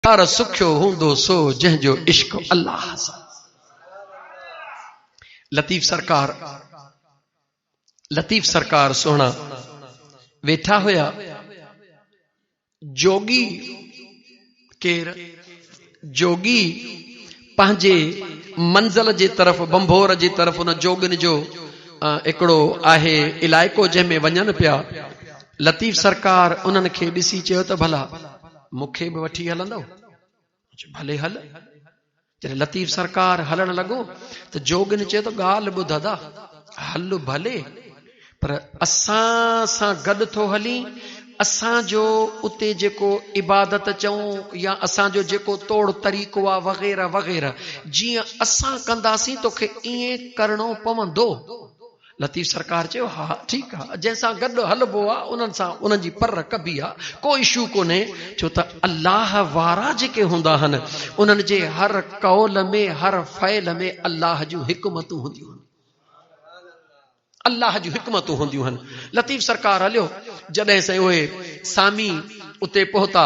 پر سکيو هوندو سو جنهن جو عشق الله سان. لطيف سرڪار لطيف سرڪار سهڻا ويٺا هيا جوڳي ڪير جوڳي پنهنجي منزل جي طرف بمبور جي طرف ان جوڳن جو هڪڙو آهي علائقو جنهن ۾ وڃن پيا لطيف سرڪار انهن کي ڏسي چيو ته ڀلا مون کي به وٺي هلندؤ؟ مون چيو، ڀلي هل. جڏهن لطيف سرڪار هلڻ لڳو ته جوڳين چيو ته ڳالهه ٻڌ ادا، هل ڀلي پر اسان سان گڏ ٿو هلين، اسان جو اتي جيڪو عبادت چئون يا اسان جو جيڪو طور طريقو آ وغيره وغيره جيئن اسان ڪنداسين توکي ائين ڪرڻو پوندو. لطيف سرڪار چيو ها ٺيڪ آ جنهن سان گڏ هلبو آ انهن سان انهن جي پر رکبي آ ڪو اشو ڪونهي ڇو ته الله وارا جيڪي هوندا آهن انهن جي هر قول ۾ هر فعل ۾ الله جون حڪمتون هونديون آهن الله جون حڪمتون هونديون آهن لطيف سرڪار هليو جڏهن سائين اهي سامي اتي پهتا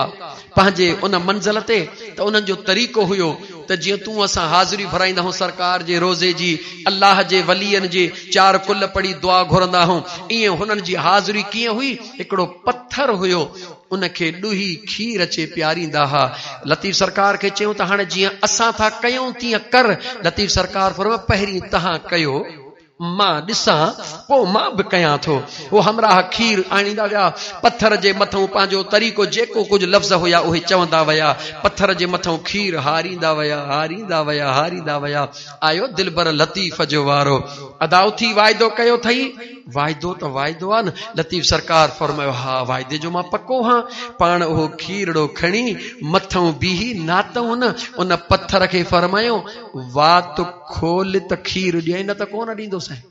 پنهنجي ان منزل تي ته انهن جو طريقو هيو ته جيئن تون اسان حاضري ڀرائيندا هون سرڪار جي روضي جي الله جي ولين جي چار ڪل پڙهي دعا گهرندا هون ايئن هنن جي حاضري ڪيئن هئي هڪڙو پٿر هيو ان کي ڏوهي کير اچي پياريندا ها لطيف سرڪار کي چيون ته هاڻي جيئن اسان ٿا ڪيون تيئن ڪر لطيف سرڪار فرمايو پهرين تهان ڪيو مان ڏسان، پوء مان به ڪيان ٿو. هو همراهه کير آڻيندا ويا. پٿر جي مٿئون پنهنجو طريقو جيڪو ڪجهه لفظ هيا اهي چوندا ويا. پٿر جي مٿئون کير هاريندا ويا، هاريندا ويا، هاريندا ويا. آيو دلبر لطيف جو وارو. ادا اٿي واعدو ڪيو ٿئي؟ واعدو ته واعدو آ نه. لطيف سرڪار فرمايو، ها واعدي جو مان پڪو هان. پاڻ اهو کيرڙو کڻي مٿئون بيهي ناتئون نه. ان پٿر کي فرمايو. وات کول ته کير ڏيئي نه ته ڪونه ڏيندوسين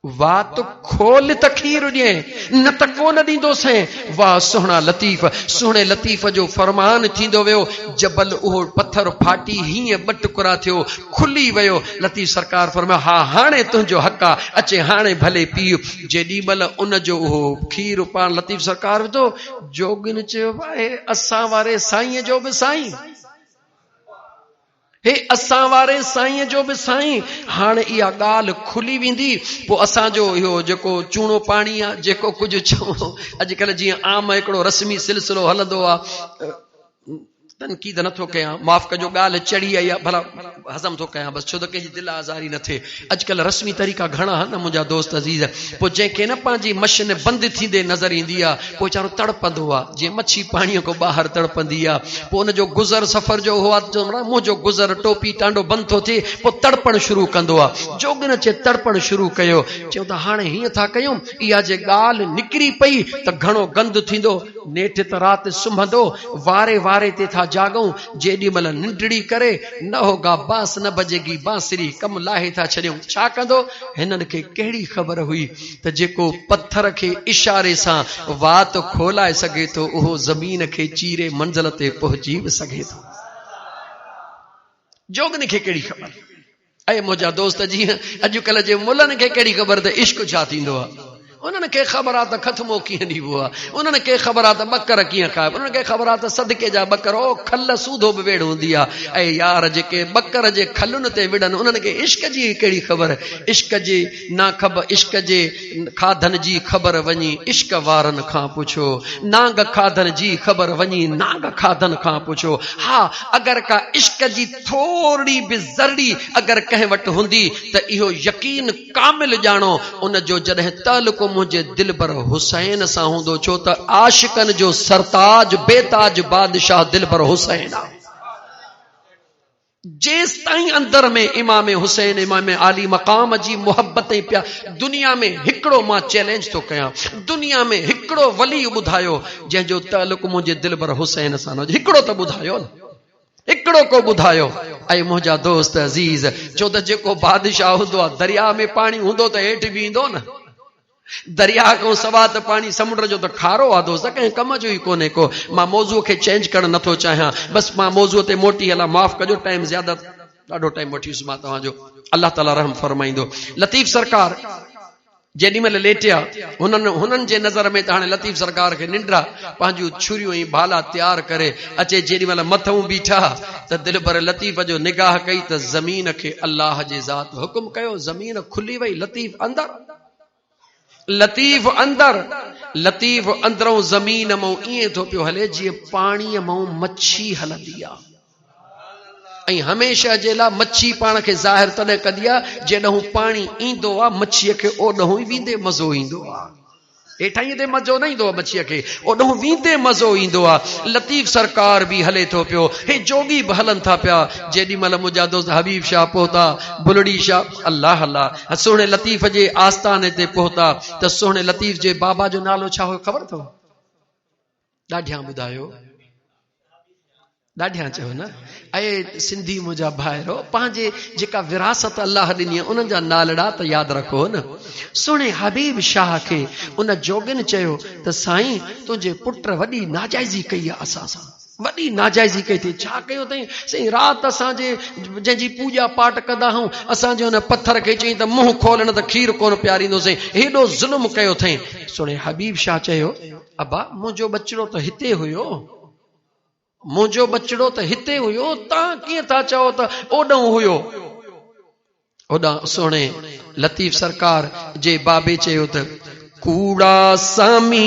وات کول ته کير ڏي نه ته ڪون ڏيندو سين واهه سهڻا لطيف سهڻي لطيف جو فرمان ٿيندو ويو جبل اهو پٿر ڦاٽي هيئن ٻه ٽڪرا ٿيو کلي ويو لطيف سرڪار فرمايو ها هاڻي تنهنجو حق آ اچي هاڻي ڀلي پي جيڏي مل ان جو اهو کير پاڻ لطيف سرڪار وڌو جوگين چيو آهي اسان واري سائين جو به سائين هي اسان واري سائين جو به سائين هاڻ اها ڳالهه کلي ويندي پوء اسان جو اهو جيڪو چوڻو پاڻي آ جيڪو ڪجهه چوڻو اڄڪلهه جيئن عام هڪڙو رسمي سلسلو هلندو آ تنقيد نٿو ڪيان معاف ڪجو ڳالهه چڙي آئي آ ڀلا هضم ٿو ڪيان بس ڇو ته ڪنهن جي دل آزاري نه ٿئي اڄڪلهه رسمي طريقا گهڻا آهن نه منهنجا دوست عزيز پوء جنهن کي نه پنهنجي مشن بند ٿيندي نظر ايندي آهي پوء ويچارو تڙپندو آهي جيئن مڇي پاڻيء کان ٻاهر تڙپندي آهي پوء ان جو گذر سفر جو هو آهي منهنجو گذر ٽوپي ٽانڊو بند ٿو ٿئي پوء تڙپڻ شروع ڪندو آهي جوڳن اچي تڙپڻ شروع ڪيو چيو ته هاڻي هيئن ٿا ڪيون اها جي ڳالهه نڪري پئي ته گهڻو گند ٿيندو نيٺ ته رات سمهندو واري واري تي ٿا جاڳون جيڏي مھل ننڊڙي ڪري نه ھو گا باس نه بجي گي بانسري ڪم لاھي ٿا ڇڏيون ڇا ڪندو ھنن کي ڪھڙي خبر ھئي ته جيڪو پٿر کي اشاري سان وات کولائي سگھي ٿو اھو زمين کي چيري منزل تي پھچي به سگھي ٿو جوڳن کي ڪھڙي خبر اي منهنجا دوست جيئن اڄڪلهه جي ملن کي ڪهڙي خبر ته عشق ڇا ٿيندو آ انهن کي خبر آ ته کٿمو ڪيئن ڏيبو آ انهن کي خبر آ ته ٻڪر ڪيئن کائبو انهن کي خبر آ ته صدقي جا ٻڪر او کل سوڌو به ويڙهه هوندي آ اي يار جيڪي ٻڪر جي کلن تي وڙهن انهن کي عشق جي ڪهڙي خبر عشق جي ناخب عشق جي کاڌن جي خبر وڃي عشق وارن کان پڇو نانگ کاڌن جي خبر وڃي نانگ کاڌن کان پڇو ها اگر ڪا عشق جي ٿورڙي به ذرڙي اگر ڪنهن وٽ هوندي ته اهو يقين ڪامل ڄاڻو ان جو جڏهن تعلق منهنجي دلبر حسين سان هوندو ڇو ته عاشقن جو سرتاج بيتاج بادشاهه دلبر حسين آهي جيستائين اندر ۾ امام حسين امام عالي مقام جي محبت ۽ پيا دنيا ۾ هڪڙو مان چئلينج ٿو ڪيان دنيا ۾ هڪڙو ولي ٻڌايو جنهن جو تعلق منهنجي دلبر حسين سان نه هجي هڪڙو ته ٻڌايو نه هڪڙو ڪو ٻڌايو اي منهنجا دوست عزيز ڇو ته جيڪو بادشاهه هوندو آهي درياء ۾ پاڻي هوندو ته هيٺ بيهندو نه درياهه کان سواء ته پاڻي سمنڊ جو ته کارو آ دوست ڪنهن ڪم جو ئي ڪونهي ڪو مان موضوع کي چينج ڪرڻ نٿو چاهيان بس مان موضوع تي موٽي هلان معاف ڪجو ٽائيم زياده ڏاڍو ٽائيم وٺي ويس مان توهان جو الله تعالي رحم فرمائيندو لطيف سرڪار جيڏي مهل ليٽيا هنن هنن جي نظر ۾ ته هاڻي لطيف سرڪار کي ننڊا پنهنجون ڇريون ۽ ڀالا تيار ڪري اچي جيڏي مهل مٿئون بيٺا ته دلبر لطيف جو نگاهه ڪئي ته زمين کي الله جي ذات حڪم ڪيو زمين کلي وئي لطيف اندر لطيف اندر، لطيف اندرئون زمين مئون ائين ٿو پيو هلي جيئن پاڻيء مئون مڇي هلندي آ ۽ هميشه جي لا مڇي پاڻ کي ظاهر تڏهن ڪندي آ جيڏنهون پاڻي ايندو آ مڇيء کي اوڏنهون ئي ويندي مزو ايندو آ هيٺان ايندي مزو نه ايندو آ مڇيء کي اوڏنهون ويندي مزو ايندو آ لطيف سرڪار به هلي ٿو پيو هي جوڳي به هلن ٿا پيا جيڏي مهل منهنجا دوست حبيب شاهه پهتا بلڙي شاهه الله الله ها سهڻي لطيف جي آستاني تي پهتا ته سهڻي لطيف جي بابا جو نالو ڇا هو خبر اٿو ڏاڍيان ٻڌايو ڏاڍيان چيو نه اي سنڌي منهنجا ڀائرو پنهنجي جيڪا وراثت الله ڏني انهن جا نالڙا ته ياد رکو نه سهڻي حبيب شاهه کي ان جوڳن چيو ته سائين تنهنجي پٽ وڏي ناجائزي ڪئي آ اسان سان وڏي ناجائزي ڪئي اٿئي ڇا ڪيو اٿئي سائين رات اسان جي جنهن جي پوڄا پاٽ ڪندا هئون اسان جي ان پٿر کي چئين ته منهن کول نه ته کير ڪون پياريندو سائين هيڏو ظلم ڪيو اٿئي سهڻي حبيب شاهه چيو ابا منهنجو ٻچڙو ته هتي هيو منهنجو ٻچڙو ته هتي هيو تان ڪيئن ٿا چئو ته اوڏنهن هيو اوڏانهن سهڻي لطيف سرڪار جي بابي چيو ته ڪوڙا سامي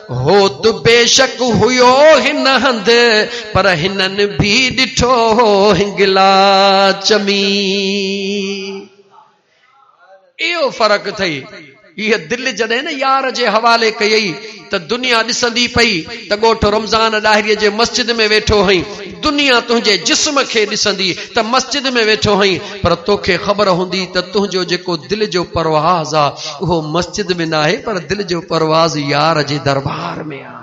هوت بيشڪ هيو هن هنڌ، پر هنن به ڏٺو هو هنگلا چمي. اهو فرق اٿئي. هيء دل جڏهن نه يار جي حوالي ڪيئي ته دنيا ڏسندي پئي ته ڳوٺ رمضان ڏاهريء جي مسجد ۾ ويٺو هئين، دنيا تنهنجي جسم کي ڏسندي ته مسجد ۾ ويٺو هئين، پر توکي خبر هوندي ته تنهنجو جيڪو دل جو پرواز آ اهو مسجد ۾ ناهي پر دل جو پرواز يار جي دربار ۾ آ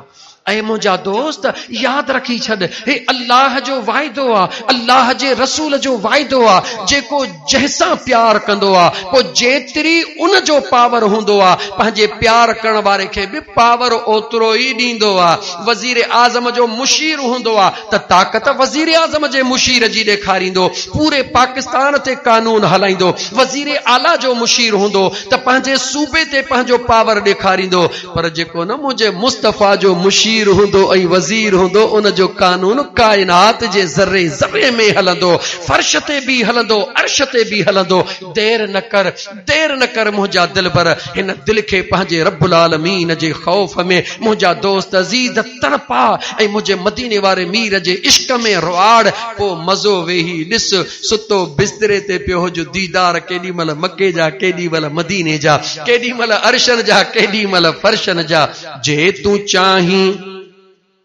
اي منهنجا دوست ياد رکي ڇڏ هي الله جو وعدو آ الله جي رسول جو وعدو آ جيڪو جنهن سان پيار ڪندو آ پو جيتري ان جو پاور هوندو آ پنهنجي پيار ڪرڻ واري کي به پاور اوترو ئي ڏيندو آ وزير اعظم جو مشير هوندو آ ته طاقت وزيراعظم جي مشير جي ڏيکاريندو، پوري پاڪستان تي قانون هلائيندو، وزير اعليٰ جو مشير هوندو ته پنهنجي صوبي تي پنهنجو پاور ڏيکاريندو، پر جيڪو نه منهنجي مصطفيٰ جو مشير هوندو ۽ وزير هوندو ان جو قانون ڪائنات جي ذري ذري ۾ هلندو، فرش تي به هلندو، عرش تي به هلندو، دير نه ڪر. دير نه ڪر منهنجا دلبر هن دل کي پنهنجي رب العالمين جي خوف ۾ منهنجا دوست عزيز تڙپاء ۽ منهنجي مديني واري مير جي عشق ۾ رئاڙ پوء مزو ويهي ڏس ستو بستري تي پيو هج ديدار ڪيڏي مهل مڪي جا ڪيڏي مهل مديني جا ڪيڏي مهل عرشن جا ڪيڏي مهل فرشن جا جي تون چاهين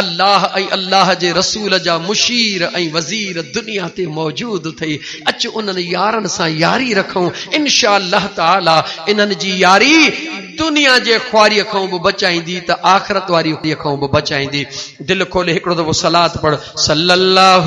الله ۽ الله جي رسول جا مشير ۽ وزير دنيا تي موجود اٿئي اچ انهن يارن سان ياري رکون انشاء الله تعالي انهن جي ياري دنيا جي خواري کان به بچائيندي ته آخرت واري کان به بچائيندي دل کولي هڪڙو دفعو صلات پڙھ صلي الله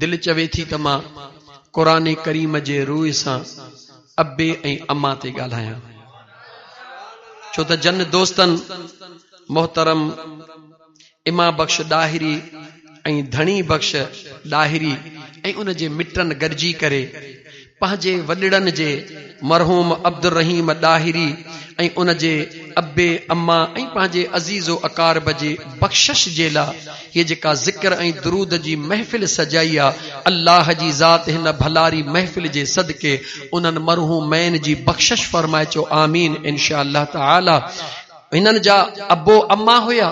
دل چوي ٿي ته مان قرآن ڪريم جي روء سان ابي ۽ اما تي ڳالهايان ڇو ته جن دوستن محترم اما بخش ڏاهري ۽ ڌڻي بخش ڏاهري ۽ ان جي مٽن گڏجي ڪري پنهنجي وڏڙن جي مرحوم عبدالرحيم ڏاهري ۽ ان جي ابي اما ۽ پنهنجي عزيز و اقارب جي بخشش جي لا هيء جيڪا ذڪر ۽ درود جي محفل سجائي آ الله جي ذات هن ڀلاري محفل جي صدقي انهن مرحومين جي بخشش فرمائي چئو آمين انشاء الله تعالي هنن جا ابو اما هيا.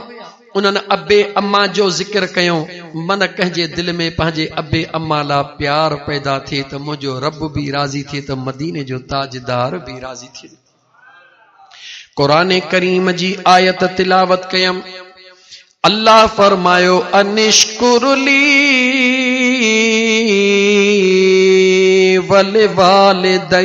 انهن ابي اما جو ذڪر ڪيو، من ڪنهن جي دل ۾ پنهنجي ابي اما لا پيار پيدا ٿئي ته منهنجو رب به راضي ٿئي ته مديني جو تاجدار به راضي ٿئي. قرآن ڪريم جي آيت تلاوت ڪيم، الله فرمايو انشڪر لي ولوالديك.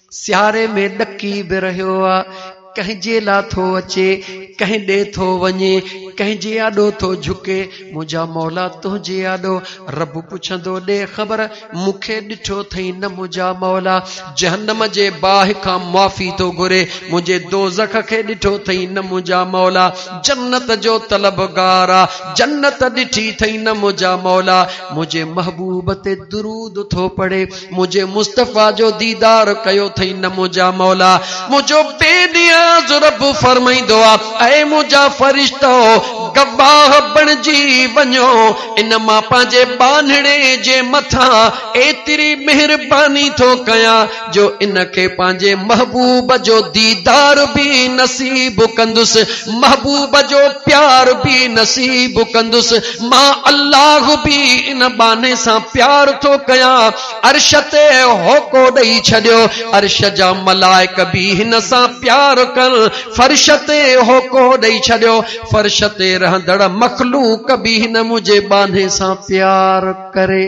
سياري ۾ ڏڪي به رهيو آ. ڪنهن جي لا ٿو اچي، ڪنهن ڏي ٿو وڃي، ڪنهن جي آڏو ٿو جهڪي، منهنجا مولا تنهنجي آڏو. رب پڇندو ڏي خبر، مون کي ڏٺو ٿئين نه منهنجا مولا. جهنم جي باهه کان معافي ٿو گهري، منهنجي دوزخ کي ڏٺو ٿئين نه منهنجا مولا. جنت جو طلبگار آ، جنت ڏٺي ٿئين نه منهنجا مولا. منهنجي محبوب تي درود ٿو پڙهي. منهنجي مصطفيٰ جو ديدار ڪيو اٿئي نه منهنجا مولا منهنجو بي نياز رب فرمائيندو آهي اي منهنجا فرشتو گواهه بڻجي وڃو ان مان پنهنجي ٻانهڙي جي مٿان ايتري مهرباني ٿو ڪيان جو ان کي پنهنجي محبوب جو ديدار به نصيب ڪندس محبوب جو پيار به نصيب ڪندس مان الله به ان ٻانهي سان پيار ٿو ڪيان. عرش تي هوڪو ڏئي ڇڏيو. عرش جا ملائڪ به هن سان پيار ڪن. فرش تي هوڪو ڏئي ڇڏيو. فرش تي رهندڙ مخلوق به هن منهنجي ٻانهي سان پيار ڪري.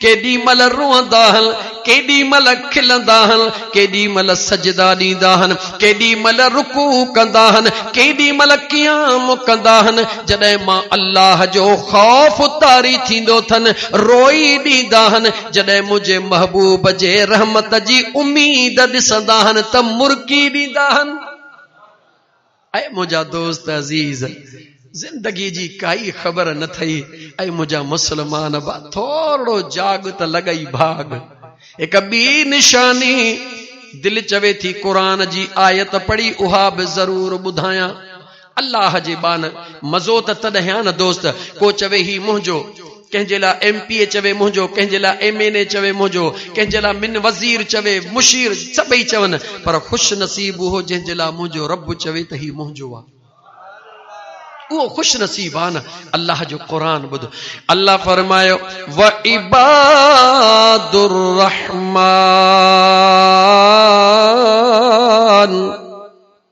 ڪيڏي مھل روئندا ھن، ڪيڏي مھل کلندا ھن، ڪيڏي مھل سجدا ڏيندا ھن، ڪيڏي مھل رڪوع ڪندا ھن، ڪيڏي مھل قيام ڪندا ھن، جڏھن مان الله جو خوف طاري ٿيندو ٿن، روئي ڏيندا ھن، جڏھن منھنجي محبوب جي رحمت جي اميد ڏسندا ھن ته مرڪي ڏيندا ھن. اي منهنجا دوست عزيز! زندگيء جي ڪائي خبر نه ٿئي، اي منهنجا مسلمان ڀا! ٿورڙو جاڳ ته لڳئي ڀاڳ. هڪ ٻي نشاني، دل چوي ٿي قرآن جي آيت پڙهي اها به ضرور ٻڌايان. الله جي ٻانهه! مزو ته تڏهن آ نه دوست! ڪو چوي هي منهنجو. ڪنهن جي لاء ايم پي اي چوي منهنجو، ڪنهن جي لاء ايم اين اي چوي منهنجو، ڪنهن جي لاء من وزير چوي، مشير سڀئي چون پر خوش نصيب اهو جنهن جي لاء منهنجو رب چوي ته هي منهنجو آ اهو خوش نصيب آ نه الله جو قرآن ٻڌو الله فرمايو وعباد الرحمٰن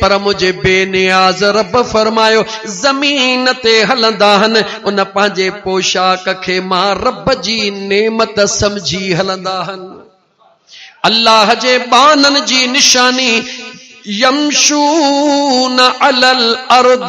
پر منهنجي بي نياز رب فرمايو، زمين تي هلندا هن، ان پنهنجي پوشاڪ کي مان رب جي نعمت سمجهي هلندا هن. الله جي ٻانهن جي نشاني، يمشون علي الارض.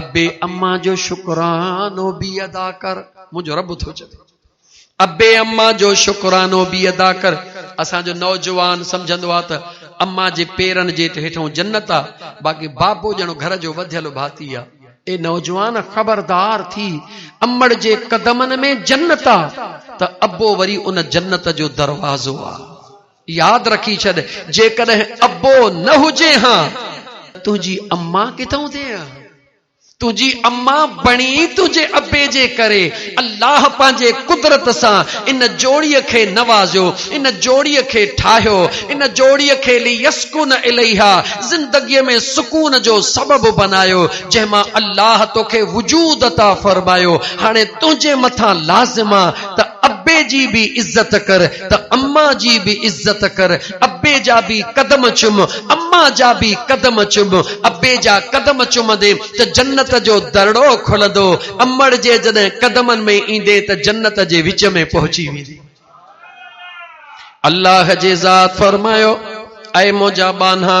ابي امان جو شڪرانو به ادا ڪر منهنجو رب ٿو چوي ابي امان جو شڪرانو به ادا ڪر اسان جو نوجوان سمجهندو آ ته امان جي پيرن جي هيٺون جنت آ باقي بابو ڄڻو گهر جو وڌيل ڀاتي آ اي نوجوان خبردار ٿي امڙ جي قدمن ۾ جنت آ ته ابو وري ان جنت جو دروازو آ. ياد رکي ڇڏ جيڪڏهن ابو نه هجين ها ته تنهنجي اما ڪٿان هجين ها. تنهنجي اما بڻي تنهنجي ابي جي ڪري. الله پنهنجي قدرت سان ان جوڙي کي نوازيو، ان جوڙي کي ٺاهيو، ان جوڙي کي ليسڪن اليها، زندگي ۾ سڪون جو سبب بنايو، جنهن مان الله توکي وجود عطا فرمايو. هاڻي تنهنجي مٿان لازم آ ته ابي جي به عزت ڪر. ته اما جي به عزت ڪر، ابي جا به قدم چم، اما جا به قدم چم، ابي جا قدم چمندين ته جنت جو درڙو کلندو، امڙ جي جڏهن قدمن ۾ ايندين ته جنت جي وچ ۾ پهچي ويندين. الله جي ذات فرمايو، اي منهنجا ٻانها!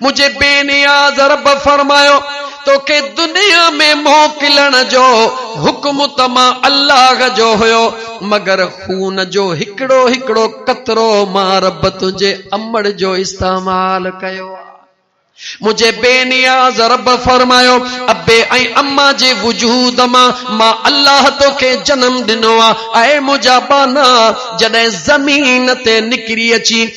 منهنجي بي نياز رب فرمايو، توکي دنيا ۾ موڪلڻ جو حڪم ته مان الله جو هيو، مگر خون جو هڪڙو هڪڙو قطرو مان رب تنهنجي امڙ جو استعمال ڪيو آ. منهنجي بي نياز رب فرمايو، ابي ۽ اما جي وجود مان مان الله توکي جنم ڏنو آ. اي منهنجا ٻانها! جڏهن زمين تي نڪري اچين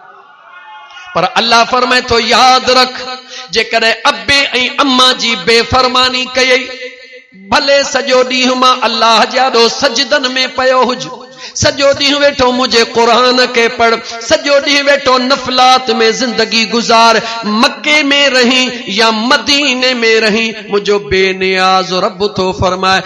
پر الله فرمائي ٿو ياد رک جيڪڏهن ابي ۽ اما جي بي فرماني ڪئي ڀلي سڄو ڏينهن مان الله جي آڏو سجدن ۾ پيو هج سڄو ڏينهن ويٺو منهنجي قرآن کي پڙھ سڄو ڏينهن ويٺو نفلات ۾ زندگي گذار مڪي ۾ رهين يا مديني ۾ رهين منهنجو بي نياز رب ٿو فرمائي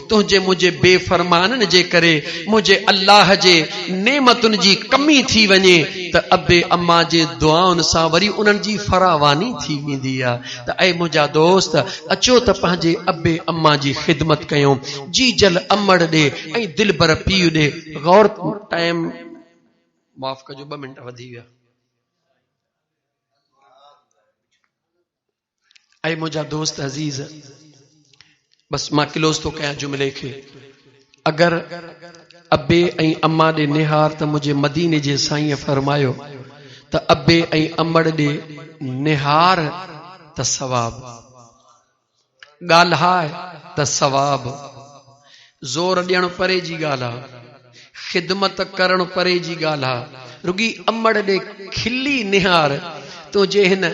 تنهنجي منهنجي بي فرمانن جي ڪري منهنجي الله جي نعمتن جي ڪمي ٿي وڃي ته ابي امان جي دعائن سان وري انهن جي فراواني ٿي ويندي آ ته اي منهنجا دوست اچو ته پنهنجي ابي امان جي خدمت ڪيون جيجل امڙ ڏي ۽ دلبر پيء ڏي غور ٽائيم معاف ڪجو ٻه منٽ وڌي ويا. اي منهنجا دوست عزيز! بس مان ڪلوز ٿو ڪيان جملي کي. اگر ابي ۽ اما ڏي نهار ته منهنجي مديني جي سائينء فرمايو ته ابي ۽ امڙ ڏي نهار ته ثواب، ڳالهاء ته ثواب. زور ڏيڻ پري جي ڳالهه آ خدمت ڪرڻ پري جي ڳالهه آ رڳي امڙ ڏي کلي نهار تون جي هن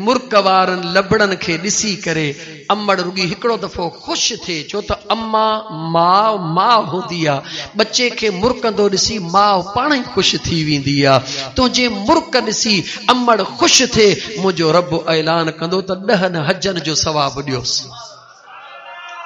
مرڪ وارن لبڙن کي ڏسي ڪري امڙ رڳي هڪڙو دفعو خوش ٿئي ڇو ته اما ماء ماء هوندي آ ٻچي کي مرڪندو ڏسي ماء پاڻ ئي خوش ٿي ويندي آ تون جي مرڪ ڏسي امڙ خوش ٿئي منهنجو رب اعلان ڪندو ته ڏهن حجن جو ثواب ڏيوس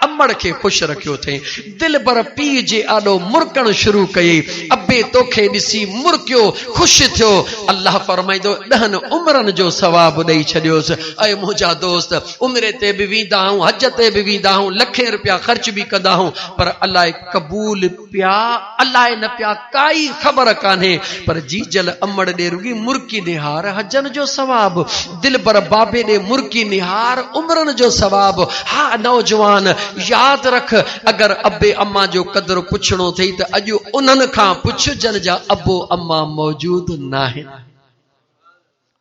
امڙ کي خوش رکيو اٿئين. دلبر پيء جي آڏو مرڪڻ شروع ڪيئي. ابي توکي ڏسي مرڪيو، خوش ٿيو. الله فرمائيندو ڏهن عمرن جو ثواب ڏئي ڇڏيوس. اي منهنجا دوست! عمري تي به ويندا هئون، حج تي به ويندا هئون، لکين روپيا خرچ به ڪندا هئون، پر الائي قبول پيا الائي نه پيا ڪائي خبر ڪانهي پر جيجل امڙ ڏي رڳي مرڪي نهار حجن جو ثواب دلبر بابي ڏي مرڪي نهار عمرن جو ثواب ها نوجوان ياد رک اگر ابي امان جو قدر پڇڻو ٿئي ته اڄ انهن کان پڇ جن جا ابو امان موجود ناهن.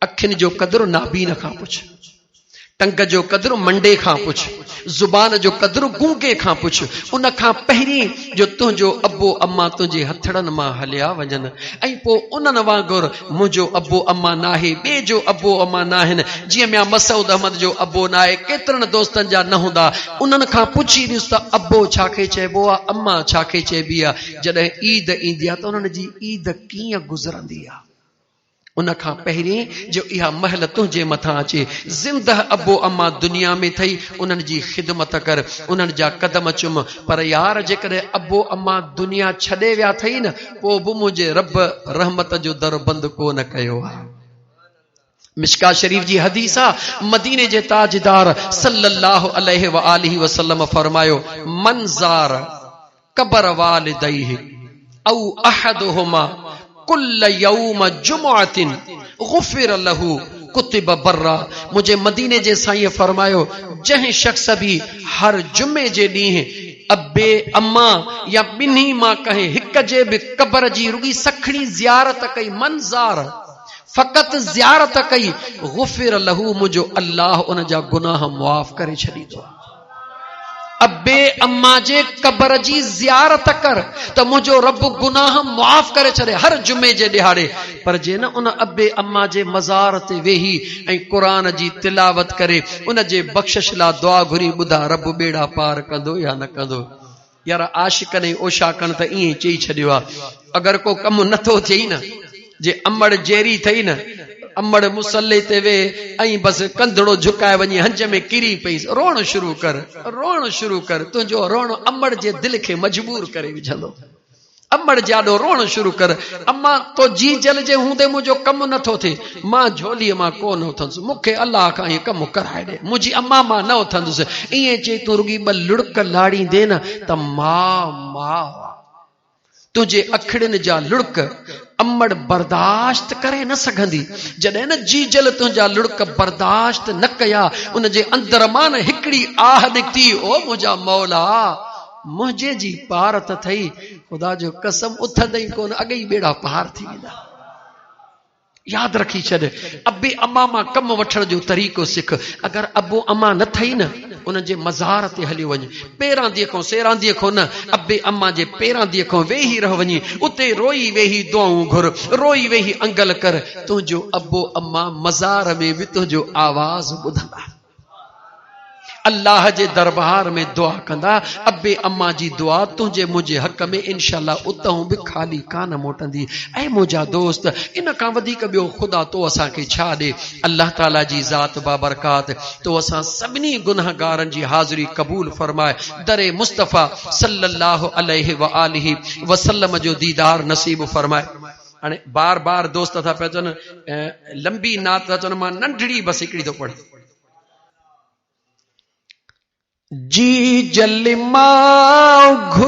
اکين جو قدر نابين کان پڇ، ٽنگ جو قدر منڊي کان پڇ، زبان جو قدر گونگي کان پڇ، ان کان پهرين جو تنهنجو ابو امان تنهنجي هٿڙن مان هليا وڃن ۽ پوء انهن وانگر منهنجو ابو امان ناهي، ٻئي جو ابو امان ناهن، جيئن ميان مسعود احمد جو ابو ناهي، ڪيترن دوستن جا نه هوندا، انهن کان پڇي ڏس ته ابو ڇا کي چئبو آهي، امان ڇا کي چئبي آهي، جڏهن عيد ايندي آهي ته انهن جي عيد ڪيئن گذرندي آهي. ان کان پهرين جو اها مهل تنهنجي مٿان اچي، زندهه ابو امان دنيا ۾ ٿئي، انهن جي خدمت ڪر، انهن جا قدم چم، پر يار جيڪڏهن ابو امان دنيا ڇڏي ويا اٿئي نه، پوء به منهنجي رب رحمت جو در بند ڪو نه ڪيو آهي. مشڪاة شريف جي حديث آ، مديني جي تاجدار صلّي اللّٰه عليه واٰله وسلّم فرمايو، من زار. قبر والديه او احدهما ڪل يوم جمعة غفر له ڪتب برا منهنجي مديني جي سائينء فرمايو جنهن شخص به هر جمعي جي ڏينهن ابي اما يا ٻنهي مان ڪنهن هڪ جي به قبر جي رڳي سکڻي زيارت ڪئي من زار فقط زيارت ڪئي غفر له منهنجو الله ان جا گناهه معاف ڪري ڇڏيندو. ابي اما جي قبر جي زيارت ڪر ته منهنجو رب گناهه معاف ڪري ڇڏي هر جمعي جي ڏهاڙي پر جي نه ان ابي اما جي مزار تي ويهي ۽ قرآن جي تلاوت ڪري ان جي بخشش لا دعا گهري ٻڌا رب ٻيڙا پار ڪندو يا نه ڪندو يار عاشقن ۽ اوشاقن ته ائين چئي ڇڏيو آ اگر ڪو ڪم نه ٿو ٿئي نه جي امڙ جيري ٿئي نه امڙ مصلي تي ويهه ۽ بس ڪنڌڙو جهڪائي وڃي هنج ۾ ڪري پئيس روئڻ شروع ڪر روئڻ شروع ڪر تنهنجو روئڻ امڙ جي دل کي مجبور ڪري وجهندو. امڙ جياڏو روئڻ شروع ڪر اما تو جي جل جي هوندي منهنجو ڪم نه ٿو ٿئي مان جهولي مان ڪو نه اٿندس مون کي الله کان هي ڪم ڪرائي ڏي منهنجي اما مان نه اٿندس ائين چئي تون رڳي ٻه لڙڪ لاڙيندي نه ته ما ما تنهنجي اکڙين جا لڙڪ امڙ برداشت ڪري نه سگهندي جڏهن نه جي جل تنهنجا لڙڪ برداشت نه ڪيا ان جي اندر مان هڪڙي آه نڪتي او منهنجا مولا منهنجي جي پار ته ٿئي، خدا جو قسم اٿندئي ڪونه اڳ ئي ٻيڙا پار ٿي ويندا. ياد رکي ڇڏ ابي اما مان ڪم وٺڻ جو طريقو سک اگر ابو اما نه ٿئي نه انهن جي مزار تي هليو وڃ پيراندي کان سيراندي کان نه ابي اما جي پيراندي کان ويهي رهه وڃي اتي روئي ويهي دعائون گهر روئي ويهي انگل ڪر تنهنجو ابو اما مزار ۾ به تنهنجو آواز ٻڌندا الله جي دربار ۾ دعا ڪندا، ابي امان جي دعا تنهنجي منهنجي حق ۾ انشاءالله اتهون به خالي ڪانه موٽندي. اي منهنجا دوست! ان کان وڌيڪ ٻيو خدا تو اسان کي ڇا ڏي؟ الله تعاليٰ جي ذات بابرڪات تو اسان سڀني گنهگارن جي حاضري قبول فرماء، در مصطفيٰ صلّي اللّٰه عليه واٰله وسلّم جو ديدار نصيب فرماء. هاڻي بار بار دوست ٿا پيا چون لمبي نعت ٿا چون مان ننڍڙي بس هڪڙي ٿو پڙهي جي جل ماء